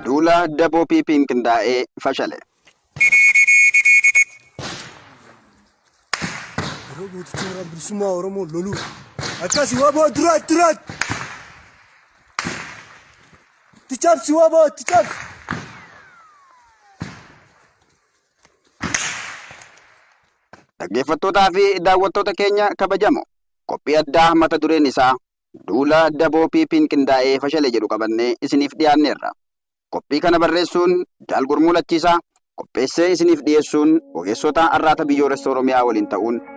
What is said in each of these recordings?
Duula wbo PP'n qindaa'e fashale. Yeroo gootichi warra bilisummaa Oromoo loluu akkasi waboo duraatti duraatti. Itti cabsi waboo itti cabsi. Dhaggeeffattootaa fi daawwattoota keenya kabajamoo qophii addaa mata dureen isaa duula daboo PP'n qindaa'ee fashale jedhu qabannee isiniif dhiyaanneerra. Qophii kana barreessuun Jaal Gurmuu Lachiisaa, qopheessee isiniif dhiyeessuun ogeessota Arraata Biyyoolessa Oromiyaa waliin ta'uun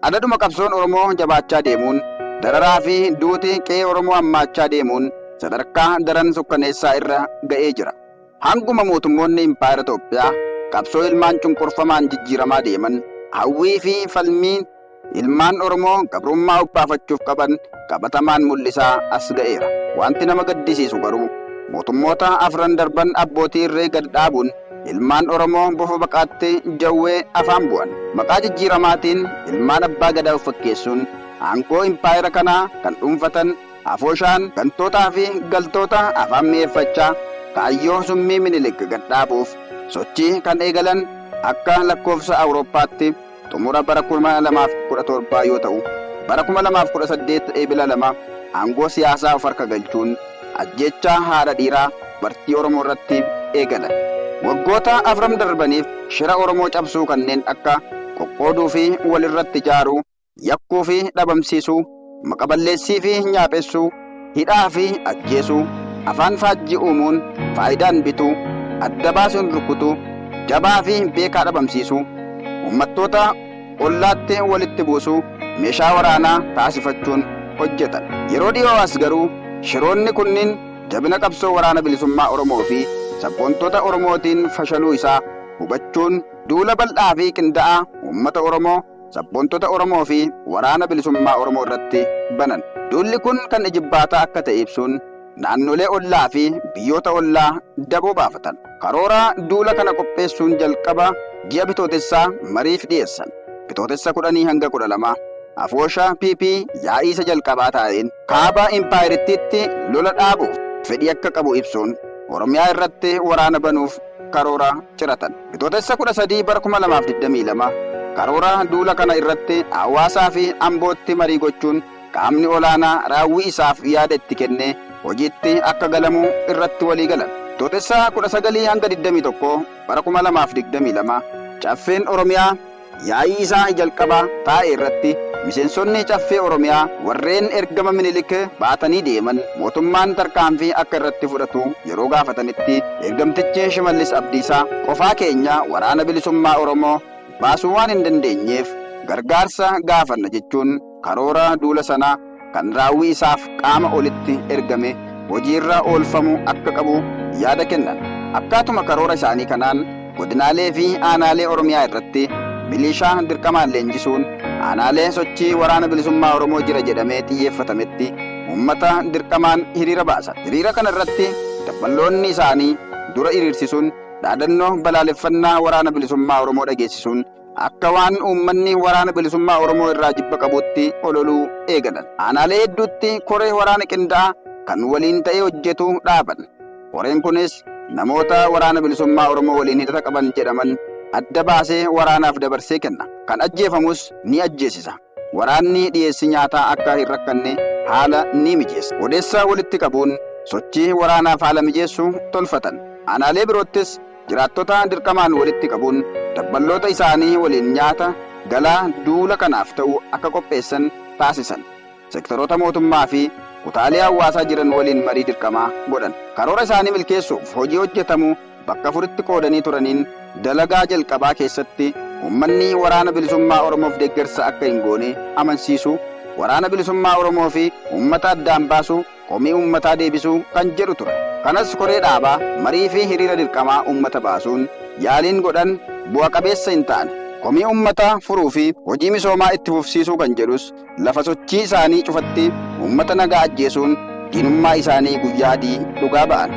Adaduma qabsoon Oromoo jabaachaa deemuun, dararaa fi duuti qe'ee Oromoo hammaachaa deemuun sadarkaa daran sukkaneessaa irra ga'ee jira. Hanguma mootummoonni Impaayera Toophiyaa qabsoo ilmaan cunqurfamaan jijjiiramaa deeman, hawwii fi falmii ilmaan Oromoo gabrummaa obbaafachuuf qaban qabatamaan mul'isaa as ga'eera. Wanti nama gaddisiisu garuu, mootummoota afran darban abbootii irree gad dhaabuun, Ilmaan Oromoo bofa baqaatti jawwee afaan bu'an. Maqaa jijjiiramaatiin ilmaan abbaa gadaa of fakkeessuun aangoo impaayera kanaa kan dhuunfatan afooshaan gantootaa fi galtoota afaan mi'eeffachaa kaayyoo summii Minilik gad dhaabuuf sochii kan eegalan akka lakkoofsa Awurooppaatti xumura bara 2017 yoo ta'u, bara 2018 Eebila 2 aangoo siyaasaa of harka galchuun ajjeechaa haadha dhiiraa dubartii Oromoo irratti eegalan. Waggoota afran darbaniif shira Oromoo cabsuu kanneen akka qoqqooduu fi wal irratti ijaaruu, yakkuu fi dhabamsiisuu, maqaballeessii fi nyaaphessuu, hidhaa fi ajjeesuu, afaan faajjii uumuun, faayidaan bituu, adda baasuun rukutuu, jabaa fi beekaa dhabamsiisuu, uummattoota ollaatti walitti buusuu meeshaa waraanaa taasifachuun hojjetan. Yeroo dhiyoo as garuu shiroonni kunniin jabina qabsoo Waraana Bilisummaa Oromoo fi sabboontota Oromootiin fashaluu isaa hubachuun duula bal'aa fi qinda'aa uummata Oromoo, sabboontota Oromoo fi Waraana Bilisummaa Oromoo irratti banan. Duulli kun kan ijibbaataa akka ta'e ibsuun, naannolee ollaa fi biyyoota ollaa daboo baafatan. Karoora duula kana qopheessuun jalqaba ji'a Bitootessaa mariif dhiyeessan. Bitootessa 10-12, Afoosha PP yaa'ii isa jalqabaa taa'een, Kaaba Impaayerittiitti lola dhaabuuf fedhii akka qabu ibsuun, Oromiyaa irratti waraana banuuf karoora ciratan. Bitootessa 13 bara 2022 karoora duula kana irratti Hawaasaa fi Ambootti marii gochuun qaamni olaanaa raawwii isaaf yaada itti kennee hojiitti akka galamu irratti walii galan. Bitootessa 19-21 bara 2022 Caffeen Oromiyaa. Yaa'ii isaa jalqabaa taa'e irratti miseensonni Caffee Oromiyaa warreen ergama Minilik baatanii deeman mootummaan tarkaanfii akka irratti fudhatu yeroo gaafatanitti ergamtichi Shimallis Abdiisaa qofaa keenya Waraana Bilisummaa Oromoo baasuu waan hin dandeenyeef gargaarsa gaafanna jechuun Karoora duula sanaa kan raawwii isaaf qaama olitti ergame hojiirra oolfamuu akka qabu yaada kennan. Akkaatuma karoora isaanii kanaan godinaalee fi aanaalee Oromiyaa irratti miliishaa dirqamaan leenjisuun aanaalee sochii Waraana Bilisummaa Oromoo jira jedhamee xiyyeeffatametti uummata dirqamaan hiriira baasan. Hiriira kana irratti dabballoonni isaanii dura hiriirsisuun dhaadannoo balaaleffannaa Waraana Bilisummaa Oromoo dhageessisuun akka waan uummanni waraana bilisummaa Oromoo irraa jibba qabuutti ololuu eegalan. Aanaalee hedduutti koree waraana qindaa'aa kan waliin ta'ee hojjetu dhaaban. Koreen kunis namoota waraana bilisummaa Oromoo waliin hidhata qaban jedhaman adda baasee waraanaaf dabarsee kenna. Kan ajjeefamus ni ajjeesisa. Waraanni dhiyeessii nyaataa akka hin rakkanne haala ni mijeessa. Odeessa walitti qabuun sochii waraanaaf haala mijeessu tolfatan. Aanaalee biroottis jiraattota dirqamaan walitti qabuun dabballoota isaanii waliin nyaata galaa duula kanaaf ta'u akka qopheessan taasisan. Sektaroota mootummaa fi kutaalee hawaasaa jiran waliin marii dirqamaa godhan. Karoora isaanii milkeessuuf hojii hojjetamu bakka afuritti qoodanii turaniin dalagaa jalqabaa keessatti uummanni Waraana Bilisummaa Oromoof deeggarsa akka hin goone amansiisuu, Waraana Bilisummaa Oromoo fi uummata addaan baasuu, komii uummataa deebisuu kan jedhu ture. Kanas koree dhaabaa, marii fi hiriira dirqamaa uummata baasuun yaaliin godhan bu'a qabeessa hin taane. Komii uummataa furuu fi hojii misoomaa itti fufsiisuu kan jedhus Lafa sochii isaanii cufatti uummata nagaa ajjeesuun diinummaa isaanii guyyaa adii dhugaa ba'an.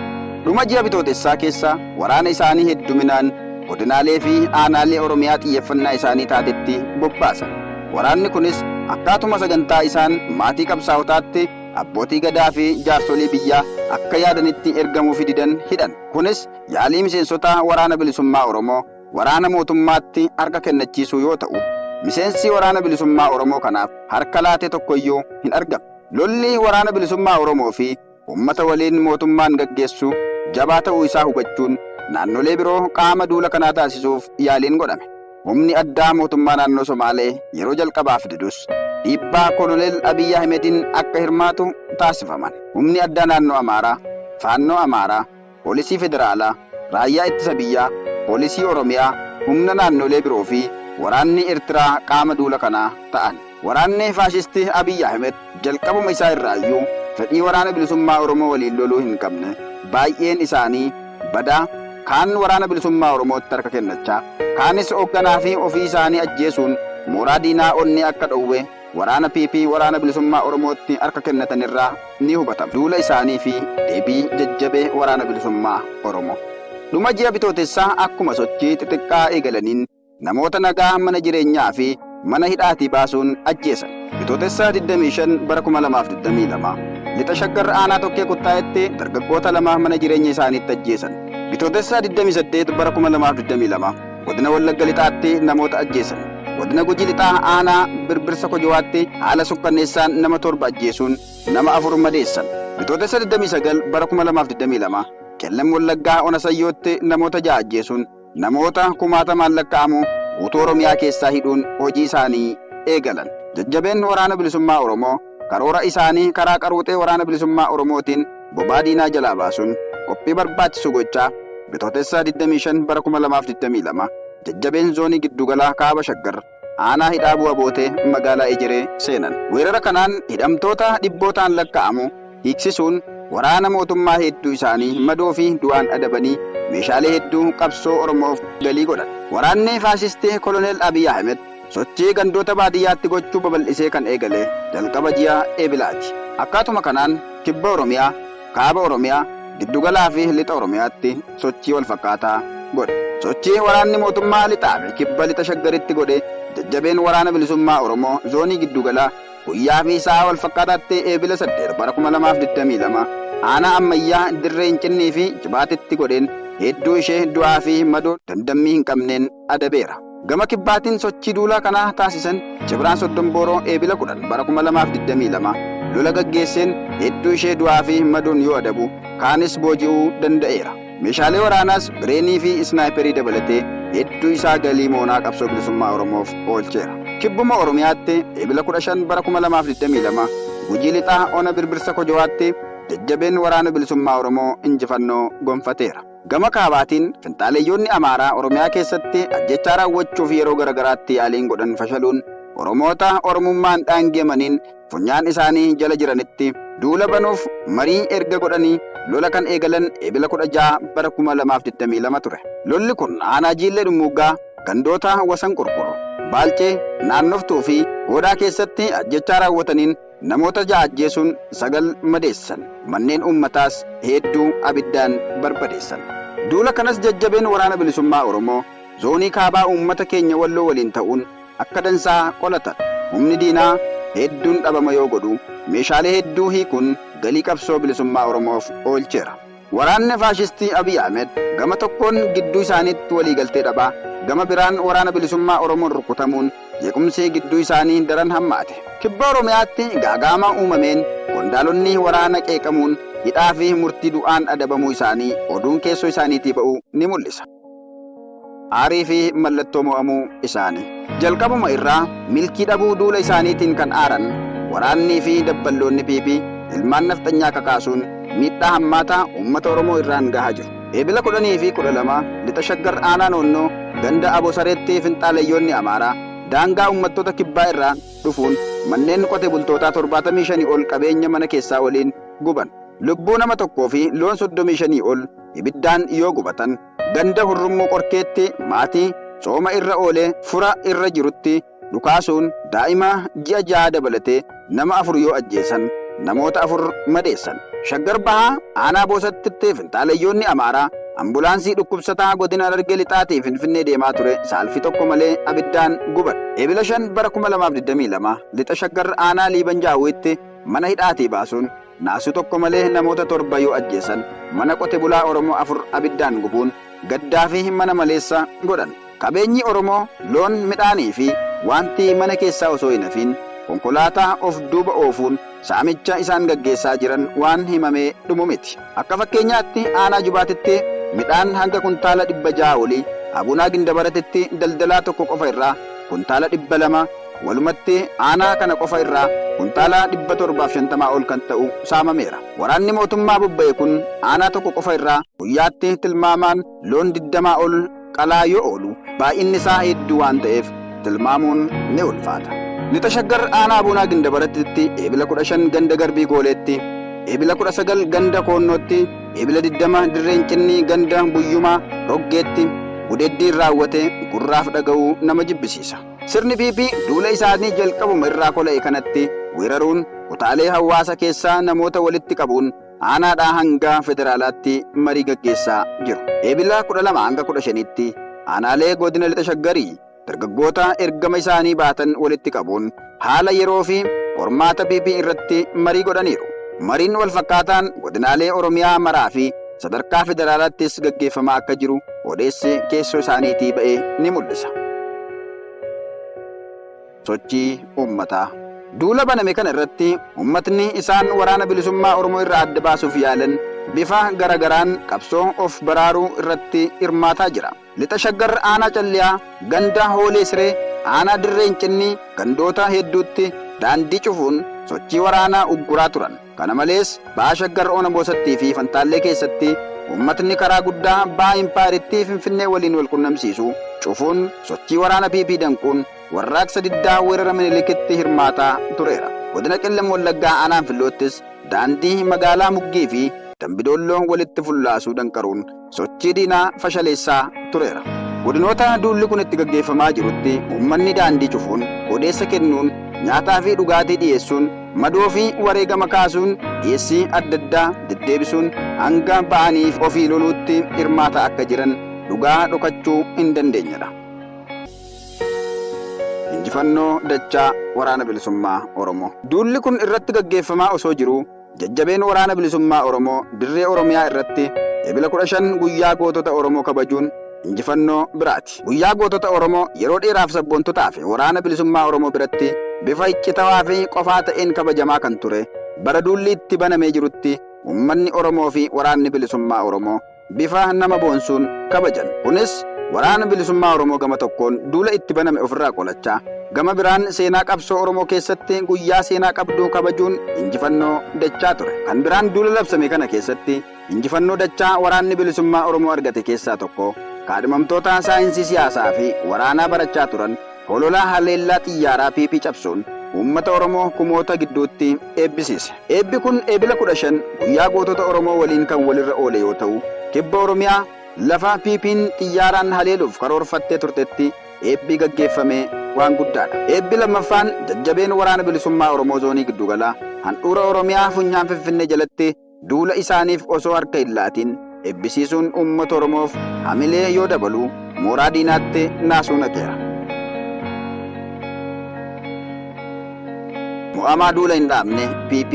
Dhuma ji'a Bitootessaa keessa waraana isaanii hedduminaan godinaalee fi aanaalee Oromiyaa xiyyeeffannaa isaanii taatetti bobbaasan. Waraanni kunis akkaatuma sagantaa isaan maatii qabsaa'otaatti abbootii gadaa fi jaarsolii biyyaa akka yaadanitti ergamuufi didan hidhan. Kunis yaalii miseensota Waraana Bilisummaa Oromoo. waraana mootummaatti harka kennachiisuu yoo ta'u, miseensii Waraana Bilisummaa Oromoo kanaaf harka laate tokko iyyuu hin argamne. Lolli Waraana Bilisummaa Oromoo fi uummata waliin mootummaan gaggeessu jabaa ta'uu isaa hubachuun naannolee biroo qaama duula kanaa taasisuuf yaaliin godhame. Humni addaa mootummaa naannoo Somaalee yeroo jalqabaaf didus dhiibbaa Koloneel Abiy Ahimediin akka hirmaatu taasifaman. Humni addaa naannoo Amaaraa, Faannoo Amaaraa, Poolisii Federaalaa, Raayyaa Ittisa Biyyaa, Poolisii Oromiyaa, humna naannolee biroo fi waraanni Ertiraa qaama duula kanaa ta'an. Waraanni faashistii Abiy Ahimed jalqabuma isaa irraayyuu fedhii Waraana Bilisummaa Oromoo waliin loluu hin qabne, baay'een isaanii badaa, kaan Waraana Bilisummaa Oromootti harka kennachaa, kaanis hogganaa fi ofii isaanii ajjeesuun mooraa diinaa onnee akka dhowwe, waraana PP Waraana Bilisummaa Oromootti harka kennatan irraa ni hubatama. Duula isaanii fi deebii jajjabee Waraana Bilisummaa Oromoo. Dhuma ji'a Bitootessaa akkuma sochii xixiqqaa eegalaniin namoota nagaa mana jireenyaa fi mana hidhaatii baasuun ajjeesan. Bitootessa 25 bara 2022 Lixa Shaggar Aanaa Tokkee Kuttaayetti dargaggoota lama mana jireenya isaaniitti ajjeesan. Bitootessa 28 bara 2022. Godina Wallagga Lixaatti namoota ajjeesan. Godina Gujii Lixaa aanaa birbirsa Kojowaatti haala sukkanneessaan nama torba ajjeesuun nama afur madeessan. Bitootessa 29 bara 2022 Qellem Wallaggaa Ona Sayyootti namoota ja'a ajjeesuun namoota kumaatamaan lakka'amu guutuu Oromiyaa keessaa hidhuun hojii isaanii eegalan. Jajjabeen Waraana Bilisummaa Oromoo karoora isaanii karaa qaruuxee Waraana Bilisummaa Oromootiin bobaa diinaa jalaa baasuun qophii barbaachisu gochaa Bitootessa 25 bara 2022 jajjabeen Zoonii Giddugalaa Kaaba Shaggar Aanaa Hidhaa Bu'a Bootee Magaalaa Ejeree seenan. Weerara kanaan hidhamtoota dhibbootaan lakka'amu hiiksisuun waraana mootummaa heedduu isaanii madoo fi du'aan adabanii meeshaalee hedduu qabsoo Oromoof galii godhan. Waraanni faashistii Koloneel Abiy Ahimed sochii gandoota baadiyyaatti gochuu babal'isee kan eegale jalqaba ji'a Eebilaati. Akkaatuma kanaan Kibba Oromiyaa, Kaaba Oromiyaa, Giddugalaa fi Lixa Oromiyaatti sochii wal fakkaataa godhe. Sochii waraanni mootummaa Lixaa fi Kibba Lixa Shaggaritti godhe jajjabeen Waraana Bilisummaa Oromoo Zoonii Giddugalaa guyyaa fi sa'a wal fakkaataatti Eebila 8 bara 2022 Aanaa Ammayyaa, Dirree Incinnii fi Jibaatitti godheen hedduu ishee du'aa fi madoo damdammii hin qabneen adabeera. Gama Kibbaatiin sochii duulaa kanaa taasisan Cibraan Soddonbooroo Eebila 10 bara 2022 lola gaggeesseen hedduu ishee du'aa fi madoon yoo adabu, kaanis booji'uu danda'eera. Meeshaalee waraanaas Bireenii fi Isnaayiperii dabalatee hedduu isaa galii moonaa Qabsoo Bilisummaa Oromoof oolcheera. Kibbuma Oromiyaatti Eebila 15 bara 2022 Gujii Lixaa Ona Birbirsa Kojowaatti jajjabeen Waraana Bilisummaa Oromoo injifannoo gonfateera. Gama kaabaatiin, finxaaleyyoonni Amaaraa Oromiyaa keessatti ajjeechaa raawwachuuf yeroo garagaraatti yaaliin godhan fashaluun, Oromoota Oromummaan daangeemaniin funyaan isaanii jala jiranitti duula banuuf marii erga godhanii lola kan eegalan Eebila 16 bara 2022 ture. Lolli kun aanaa Jiillee Dhummuuggaa gandoota Wasan Qurqur, Baalcee, Naannoftuu fi Goodaa keessatti ajjeechaa raawwataniin Namoota ja'a ajjeesuun sagal madeessan. Manneen uummataas heedduu abiddaan barbadeessan. Duula kanas jajjabeen Waraana Bilisummaa Oromoo Zoonii Kaabaa uummata keenya Walloo waliin ta'uun akka dansaa qolatan. Humni diinaa heedduun dhabama yoo godhu, meeshaalee heedduu hiikuun galii qabsoo bilisummaa Oromoof oolcheera. Waraanni faashistii Abiy Ahmed gama tokkoon gidduu isaaniitti waliigaltee dhabaa, gama biraan Waraana Bilisummaa Oromoon rukutamuun jeequmsi gidduu isaanii daran hammaate. Kibba Oromiyaatti gaaga'ama uumameen qondaalonni waraana qeeqamuun hidhaa fi murtii du'aan adabamuu isaanii oduun keessoo isaaniitii ba'u ni mul'isa. Aarii fi mallattoo mo'amuu isaanii. Jalqabuma irraa milkii dhabuu duula isaaniitiin kan aaran waraannii fi dabballoonni PP ilmaan nafxanyaa kakaasuun miidhaa hammaataa uummata Oromoo irraan gahaa jiru. Eebila 10 fi 12 Lixa Shaggar Aanaa Noonnoo ganda Abosareetti finxaaleyyoonni Amaaraa daangaa uummattoota Kibbaa irraa dhufuun manneen qote bultootaa 75 ol qabeenya mana keessaa waliin guban. Lubbuu nama tokkoo fi loon 35 ol ibiddaan yoo gubatan ganda Hurrummuu Qorkeetti maatii tsooma irra oolee fura irra jirutti dhukaasuun daa'ima ji'a jahaa dabalatee nama afur yoo ajjeesan namoota afur madeessan. Shaggar Bahaa aanaa Boosattitti finxaaleyyoonni Amaaraa ambulaansii dhukkubsataa godina Harargee Lixaatii Finfinnee deemaa ture saalfii tokko malee abiddaan guban. Ebila 5 bara 2022 Lixa Shaggar aanaa Liiban Jaawwiitti mana hidhaatii baasuun Naasuu tokko malee namoota torba yoo ajjeesan, mana qote bulaa Oromoo afur abiddaan gubuun gaddaa fi mana maleessa godhan. Qabeenyi Oromoo, loon, midhaanii fi waanti mana keessaa osoo hin hafiin konkolaataa of duuba oofuun saamicha isaan gaggeessaa jiran waan himamee dhumu miti. Akka fakkeenyaatti aanaa Jubaatitti midhaan hanga kuntaala 600 olii, Abuunaa Gindabaratitti daldalaa tokko qofa irraa kuntaala 200, Walumatti aanaa kana qofa irraa kuntaala 750 ol kan ta'u saamameera. Waraanni mootummaa bobba'e kun aanaa tokko qofa irraa guyyaatti tilmaamaan loon 20 ol qalaa yoo oolu baay'inni isaa hedduu waan ta'eef tilmaamuun ni ulfaata. Lixa Shaggar aanaa Abuunaa Gindabarattitti Eebila 15 ganda Garbii Gooleetti, Eebila 19 ganda Koonnootti, Eebila 20 Dirreen Cinnii ganda Buyyumaa Roggeetti gudeeddiin raawwate gurraaf dhaga'uu nama jibbisiisa. Sirni PP duula isaanii jalqabuma irraa kola'e kanatti weeraruun kutaalee hawaasa keessaa namoota walitti qabuun aanaadhaa hanga federaalaatti marii gaggeessaa jiru. Eebila 12-15tti aanaalee godina Lixa Shaggarii dargaggoota ergama isaanii baatan walitti qabuun haala yeroo fi qormaata PP irratti marii godhaniiru. Mariin walfakkaataan godinaalee Oromiyaa maraa fi sadarkaa federaalaattis gaggeeffamaa akka jiru odeessi keessoo isaaniitii ba'e ni mul'isa. Sochii uummataa. Duula baname kana irratti uummatni isaan waraana bilisummaa Oromoo irraa adda baasuuf yaalan bifa garagaraan qabsoo of baraaruu irratti hirmaataa jira. Lixa Shaggar Aanaa Calliyaa ganda Hoolee Siree aanaa Dirree Incinnii gandoota hedduutti daandii cufuun sochii waraanaa ugguraa turan. Kana malees Baha Shaggar Ona Boosattii fi Fantaallee keessatti uummatni karaa guddaa Baha Impaayerittii Finfinnee waliin wal qunnamsiisu cufuun sochii waraana PP danquun warraaqsa diddaa weerara Minilikitti hirmaataa tureera. Godina Qellem Wallaggaa Aanaa Anfilloottis daandii magaalaa Muggii fi Dambi Doolloo walitti fullaasuu danqaruun sochii diinaa fashaleessaa tureera. Godinoota duulli kun itti gaggeeffamaa jirutti uummanni daandii cufuun, odeessa kennuun, nyaataafi dhugaatii dhiyeessuun, madoofi wareegama kaasuun, dhiyeessii addaddaa deddeebisuun hanga ba'anii ofii loluutti hirmaataa akka jiran dhugaa dhokachuu hindandeenyedha. Injifannoo dachaa Waraana Bilisummaa Oromoo! Duulli kun irratti gaggeeffamaa osoo jiruu, Jajjabeen Waraana Bilisummaa Oromoo dirree Oromiyaa irratti Ebila 15 guyyaa gootota Oromoo kabajuun injifannoo biraati. Guyyaa gootota Oromoo yeroo dheeraaf sabboontotaa fi Waraana Bilisummaa Oromoo biratti bifa iccitawaa fi qofaa ta'een kabajamaa kan ture bara duulli itti banamee jirutti uummanni Oromoo fi Waraanni Bilisummaa Oromoo bifa nama boonsuun kabajan. Kunis, Waraana Bilisummaa Oromoo gama tokkoon duula itti baname ofirraa qolachaa, gama biraan seenaa qabsoo Oromoo keessatti guyyaa seenaa qabdu kabajuun injifannoo dachaa ture. Kan biraan duula labsame kana keessatti injifannoo dachaa Waraanni Bilisummaa Oromoo argate keessaa tokko kaadhimamtoota saayinsii siyaasaafi waraanaa barachaa turan, Holola haleellaa xiyyaaraa PP cabsuun uummata Oromoo kumoota gidduutti eebbisiise. Eebbi kun Eebila 15 guyyaa gootota Oromoo waliin kan walirra oole yoo ta'u, Kibba Oromiyaa lafa PPn xiyyaaraan haleeluuf karoorfattee turtetti eebbi gaggeeffame waan guddaadha. Eebbi lammaffaan jajjabeen Waraana Bilisummaa Oromoo Zoonii Giddugalaa handhuura Oromiyaa funyaan Finfinnee jalatti duula isaaniif osoo harka hin laatiin ebbisiisuun uummata Oromoof hamilee yoo dabalu mooraa diinaatti naasuu naqeera. Mo'amaa duula hin dhaabne PP.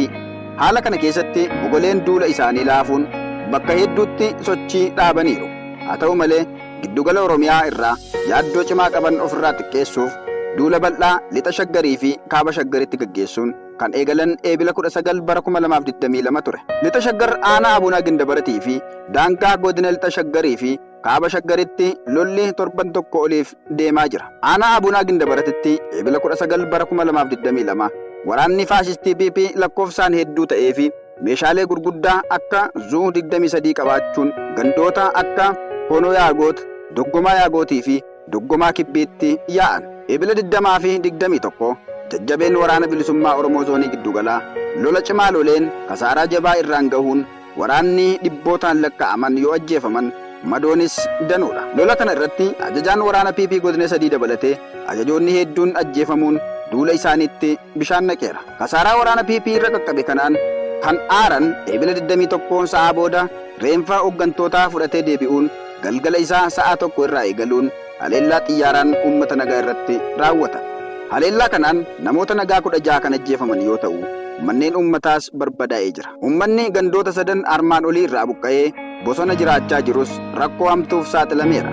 Haala kana keessatti mogoleen duula isaanii laafuun bakka hedduutti sochii dhaabaniiru. Haa ta'u malee giddugala Oromiyaa irraa yaaddoo cimaa qaban ofirraa xiqqeessuuf duula bal'aa Lixa Shaggarii fi Kaaba Shaggaritti gaggeessuun kan eegalan Eebila 19 bara 2022 ture. Lixa Shaggar aanaa Abuna Gindabaratii fi daangaa godina Lixa Shaggarii fi Kaaba Shaggaritti lolli torban tokko oliif deemaa jira. Aanaa Abuna Gindabaratitti Eebila 19 bara 2022 waraanni faashistii PP lakkoofsaan hedduu ta'ee fi meeshaalee gurguddaa akka Zu 23 qabaachuun gandoota akka Hoonoo Yaagoot, Doggomaa Yaagootii fi Duggumaa Kibbiitti yaa'an. Ebila 20 fi 21 jajjabeen Waraana Bilisummaa Oromoo Zoonii Gidduugalaa lola cimaa loleen kasaaraa jabaa irraan gahuun waraanni dhibbootaan lakkaa'aman yoo ajjeefaman madoonis danuudha. Lola kana irratti ajajaan waraana PP Godina 3 dabalatee ajajoonni heedduun ajjeefamuun duula isaaniitti bishaan naqeera. Kasaaraa waraana PP irra qaqqabe kanaan kan aaran Ebila 21 sa'aa booda reenfa hoggantootaa fudhatee deebi'uun, galgala isaa sa'aa 1:00 irraa eegaluun haleellaa xiyyaaraan uummata nagaa irratti raawwata. Haleellaa kanaan namoota nagaa 16 kan ajjeefaman yoo ta'u, manneen uummataas barbadaa'ee jira. Uummanni gandoota sadan armaan olii irraa buqqa'ee bosona jiraachaa jirus rakkoo hamtuuf saaxilameera.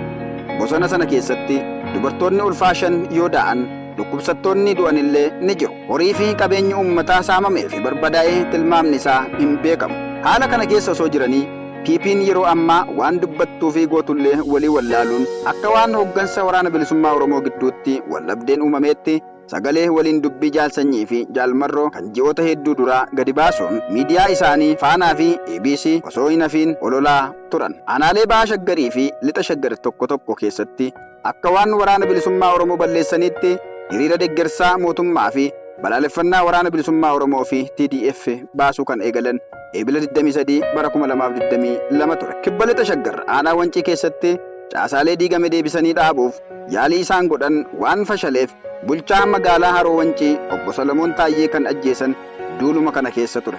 Bosona sana keessatti dubartoonni ulfaa shan yoo daa'an, dhukkubsattoonni du'anillee ni jiru. Horii fi qabeenyi uummataa saamamee fi barbadaa'e tilmaamni isaa hin beekamu. Haala kana keessa osoo jiranii PP'n yeroo ammaa waan dubbattuu fi gootullee walii wallaaluun akka waan hoggansa Waraana Bilisummaa Oromoo gidduutti waldhabdeen uumameetti sagalee waliin dubbii Jaal Sanyii fi Jaal Marroo kan ji'oota hedduu duraa gadi baasuun miidiyaa isaanii Faanaa fi EBC osoo hin hafiin ololaa turan. Aanaalee Baha Shaggarii fi Lixa Shaggar tokko tokko keessatti. Akka waan Waraana Bilisummaa Oromoo balleessaniitti hiriira deggersaa mootummaa fi balaaleffannaa Waraana Bilisummaa Oromoo fi TDF baasuu kan eegalan Eebila 23 bara 2022 ture. Kibba Lixa Shaggar aanaa Wancii keessatti caasaalee diigame deebisanii dhaabuuf yaalii isaan godhan waan fashaleef bulchaa magaalaa Haroo Wancii Obbo Salamoon Taayyee kan ajjeesan duuluma kana keessa ture.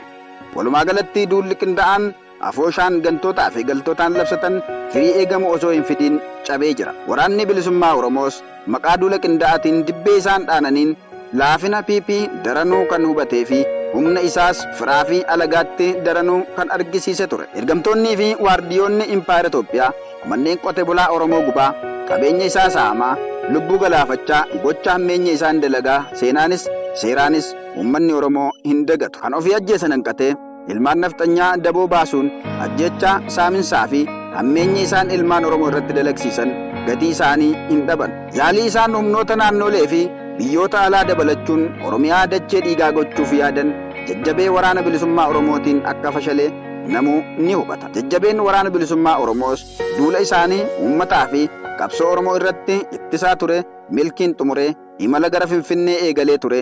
Walumaagalatti duulli qinda'aan Afooshaan gantootaa fi galtootaan labsatan firii eegamu osoo hin fidiin cabee jira. Waraanni Bilisummaa Oromoos maqaa duula qindaa'atiin dibbee isaan dhaananiin laafina PP daranuu kan hubatee fi humna isaas firaa fi alagaatti daranuu kan argisiise ture. Ergamtoonnii fi waardiyoonni Impaayera Itoophiyaa manneen qote bulaa Oromoo gubaa, qabeenya isaa saamaa, lubbuu galaafachaa gocha hammeenya isaan dalagaa seenaanis seeraanis uummanni Oromoo hin dagatu. Kan ofii ajjeesan hanqatee. Ilmaan nafxanyaa daboo baasuun ajjeechaa, saaminsaa fi hammeenyi isaan ilmaan Oromoo irratti dalagsiisan gatii isaanii hin dhaban. Yaalii isaan humnoota naannoolee fi biyyoota alaa dabalachuun Oromiyaa dachee dhiigaa gochuuf yaadan jajjabee Waraana Bilisummaa Oromootiin akka fashale namuu ni hubata. Jajjabeen Waraana Bilisummaa Oromoos duula isaanii uummataa fi qabsoo Oromoo irratti ittisaa ture milkiin xumuree imala gara Finfinnee eegalee ture.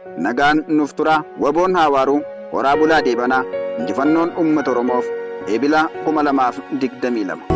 Nagaan nuuf turaa waboon haa waaruu horaa bulaa deebanaa injifannoon uummata oromoof Ebila 2022.